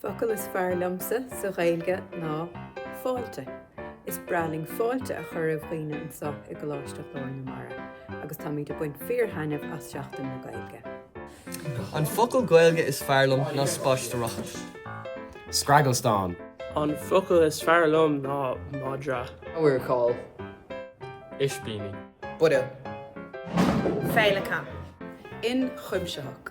focal is fearr liomsa sa Ghaeilge ná fáilte. Is breá linn fáilte a chur roimh dhaoine anseo i gColáiste Ghlór na Mara agus táimid ag baint fíor-thaitneamh as Seachtain na Gaeilge. An focal Gaeilge is fearr liom ná spaisteoireacht. scragallstán. An focal is fearr liom ná madra. amharcáil ispíní. buidéal. féileacán. inchuimsitheach.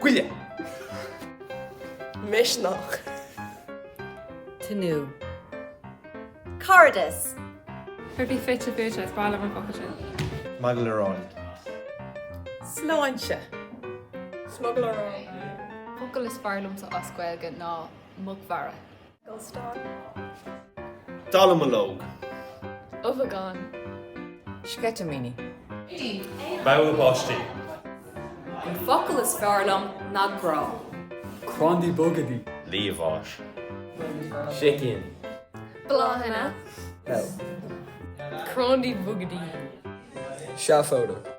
Goile. Misneach. Tnúth. Cairdeas. Fear bídh fite fuaite as baill an phobail sin. Smugairle róin. Sláinte. Smugairle róin. Focal is fearr liomsa as Gaeilge ná muc mhara. dallamullóg. ubhagán, sceitimíní. bogha báistí. An focal is fearr liom ná grá. crandaí bogadaí. liamháis, sicín. bláthanna, crandaí bogadaí. seafóideach.